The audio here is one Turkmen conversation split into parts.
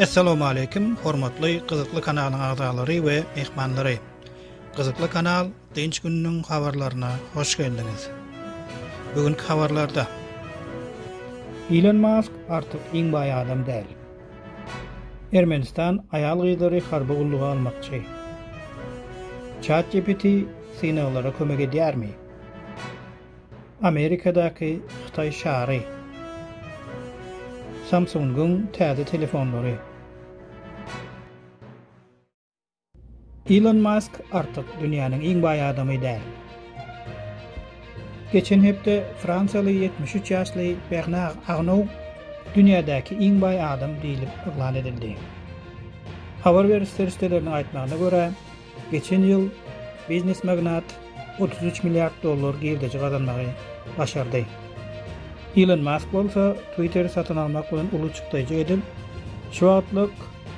Assalamu alaykum, hormatly gyzykly kanalyň agzalary we mehmanlary. Gyzykly kanal Dynç gününiň habarlaryna hoş geldiňiz. Bu günki habarlarda Elon Musk artık iň baý adam däl. Ermenistan aýal-gyzlary harby gulluga almakçy. ChatGPT synaglara kömek edýärmi? Amerikadaky Hytaý şary. Samsung-yň täze telefonlary. Ilon Mask artyk dünýäniň iň baý adamy däl. Geçen hepde fransiýaly ýetmiş üç ýaşly Bernar Arnou dünýädäki iň baý adam diýlip yglan edildi. Habar beriş serişdeleriniň aýtmagyna görä, geçen ýyl biznes magnat otuz üç milliard dollar girdeji gazanmagy başardy. Ilon Mask bolsa Twitteri satyn almak bilen uly çykdajy edip, şu wagtlyk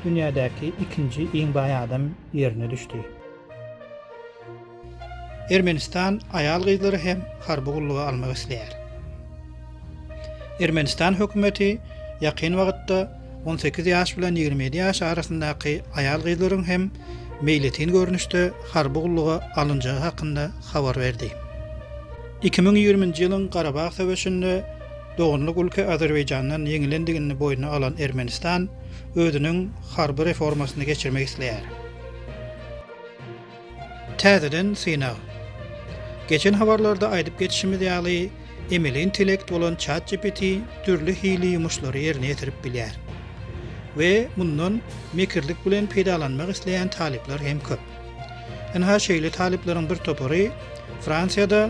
dünýädäki ikinji iň baý adam ýerine düşdi. Ermenistan aýal-gyzlary hem harby gulluga almak isleýär. Ermenistan hökümeti ýakyn wagtda On sekiz ýaş bilen ýigrimi ýedi ýaş arasyndaky aýal-gyzlaryň hem meýletin görnüşde harby gulluga alynjagy hakynda habar berdi. Iki müň ýigriminji ýylyň Garabag söweşinde doganlyk ülke Azerbaýjandan ýeňilendigini boýnuna alan Ermenistan özüniň harby reformasyny geçirmek isleýär. Täzeden synag. Geçen habarlarda aýdyp geçişimiz ýaly, emeli intellekt bolan ChatGPT dürli hili ýumuşlary ýerine ýetirip bilýär. We mundan mekirlik bilen peýdalanmak isleýän talyplar hem köp. Ynha şeýle talyplaryň bir topary Fransiýada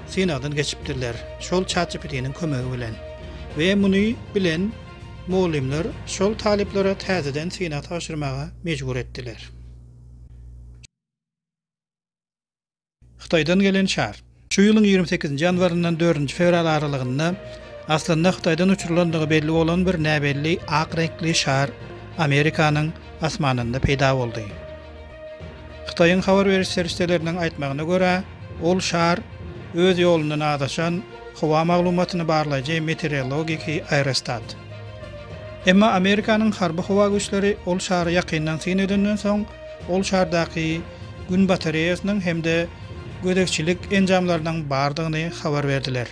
synagdan geçipdirler, şol ChatGPT-niň kömegi bilen. We muny bilen mugallymlar şol talyplary täzeden synag tabşyrmaga mejbur etdiler. Hytaýdan gelen şar. Şu ýylyň ýigrimi sekizinji ýanwaryndan dördünji fewral aralygynda aslynda Hytaýdan uçurylandygy belli bolan bir näbelli ak reňkli şar Amerikanyň asmanynda peýda boldy. Hytaýyň habar beriş serişdeleriniň aýtmagyna görä, ol şar öz ýolundan azaşan howa maglumatyny barlaýjy meteorologiki aerostat. Emma Amerikanyň harby howa güýçleri ol şary ýakyndan syn edenden soň, ol şardaky Gün batareýasynyň hem-de gözegçilik enjamlarynyň bardygyny habar berdiler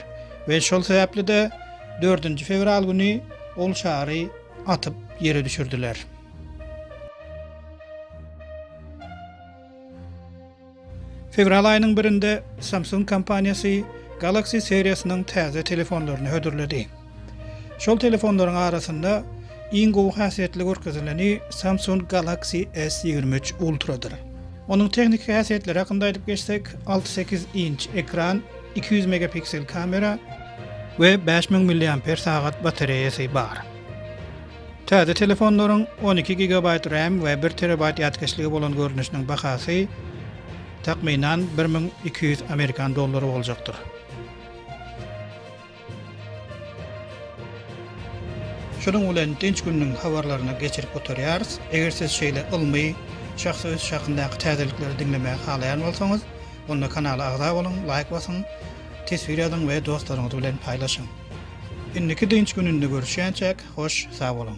we şol sebäpli-de dördünji fewral güni ol şary atyp ýere düşürdiler. Fewral aýynyň birinde Samsung kompaniýasy Galaxy seriýasynyň täze telefonlaryny hödürledi. Şol telefonlaryň arasynda iň gowy häsiýetli görkezileni Samsung Galaxy S ýigrimi üç Ultra-dyr. Onuň tehniki häsiýetleri hakynda aýdyp geçsek, alty sekiz inç ekran, iki ýüz megapiksel kamera we bäş müň milliamper sagat batareýasy bar. Täze telefonlaryň on iki gigabaýt ram we bir terabaýt ýatkeşligi bolan görnüşiniň bahasy, takmynan, bir müň iki ýüz amerikan dollary boljakdyr. Şunuň bilen dynç gününiň habarlaryny geçirip gutarýarys. Eger siz şeýle ylmy, şahsy ösüş hakyndaky täzelikleri diňlemäge halaýan bolsaňyz, onda kanala agza boluň, laýk basyň, teswir ýazyň we dostlaryňyz bilen paýlaşyň. Indiki dynç gününde görüşýänçäk hoş sag boluň.